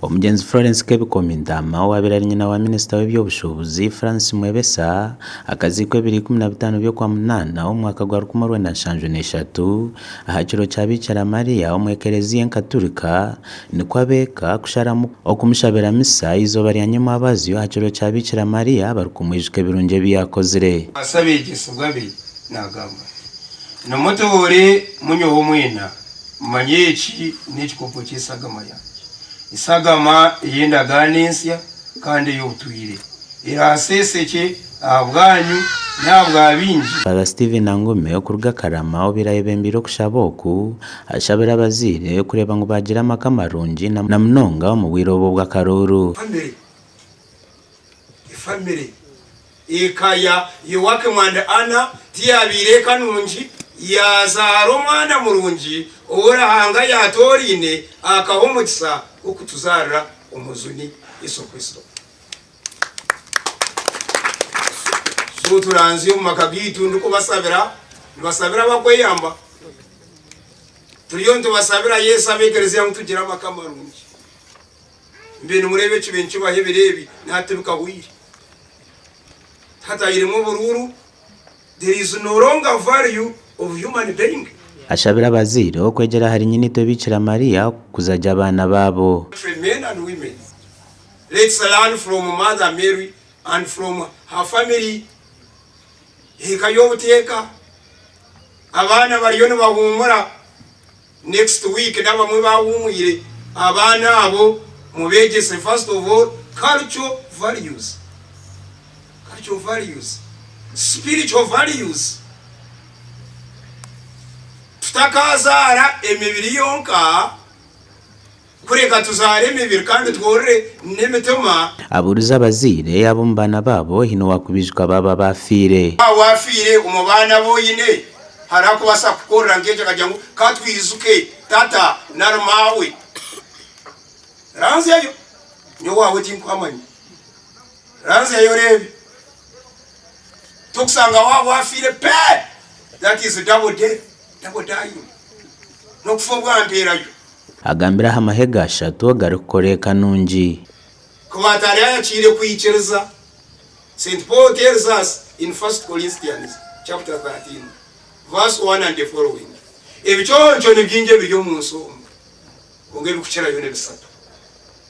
Omugyenzi Florence Kebikomi Ntama owaabaire ari nyina wa minisita w'eby'obushuubuzi Francis Mwebesa akaziikwa ebiro ikumi na bitaano by'okwamunaana omwaka gwa rukumi orwenda nshanju na ishatu aha kiro kya Biikira Maria omu ekereziya enkaturika Nikwo ab'eka kusharamu okumushabira misa eizooba rya nyamwabazyo aha kiro kya Biikira Mariya barikumwijuka ebirungi ebi yaakozire. Asi abeegyesebwa be naagamba ati, Nimutoore munyowe mwena, mumanye eki n'ekikopo ky'esagama yangye, esagama ey'endagaano ensya kandi ey'obutwire, eraaseesekye Ahabwanyu n'ahabwa baingi. Father Steven Angome okuruga Karama obu yayebembeire okushaba oku, ashabira abazaire kureeba ngu baagira amaka marungi na munonga omu bwire obwo bw'akaruuru. Family Efamire, eka ya Yoakim and Anna tiyaabaire eka nungi. Yaazaara omwana murungi ou Ruhanga yaatooraine akaha omukisa gw'okutuzaarira Omujuni, Yesu Kristo. So turanzya omu maka gaitu ndikubasabira, nibasabira abakweyamba. Turiyo nitubasabira Yesu abe ekereziya ngu tugire amaka marungi. Mbwenu mureebe ekibe nikibaho ebiro ebi naha tibikahwaire. Hatairemu oburuuru, there is no longer value of human being. Ashabira abazaire okwegyera ahari Nyinitwe Bikira Maria kukuzagye abaana baabo. Children, men and women. Let's learn from mother Mary and from her family Eka y'obuteeka abaana bariyo nibahuumura next week n'abamwe bahuumwire abaana abo mubeegyese first of all cultural values cultural values spiritual values Tutakaazaara emibiri yonka. Kureka tuzaare emibiri kandi tworore n'emitima. Abuurize abazaire ab'omu baana baabo haine owaakubiijuka baabo abaafiire. Waaba waafiire omu baana abu oine, hariho akubaasa kukukorera nk'ekyo akagira ngu, Ka twijuke tata nari maawe. Ranzyayo. Nyowe owaawe tinkuhamanya. Ranzyayo oreebe. Tokusanga waaba waafiire pe! That is double death, double dying. N'okufa obwa mpeerayo. Agambire aha mahega ashatu agarikukora eka nungi. Ku batari ayakire kwikiriza, Saint Paul tells us in First Corinthians chapter 13 verse one and the following, Ebiconco ni bingi ebiri omu nsi omu, kwonka ebikukirayo ni bisatu.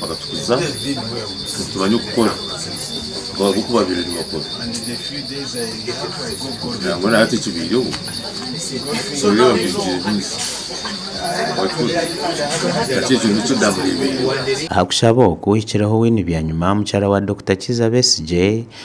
bakatukuza nitumanya okukora nk'oku baabaire nibakora nangwa na hati ekibaireho nooreeba baigire bingi hati ekyo nikyo ndaamureebeire Aha kushaba oku, hikireho wini byanyima mukyara wa Dokita Kiiza Besigye,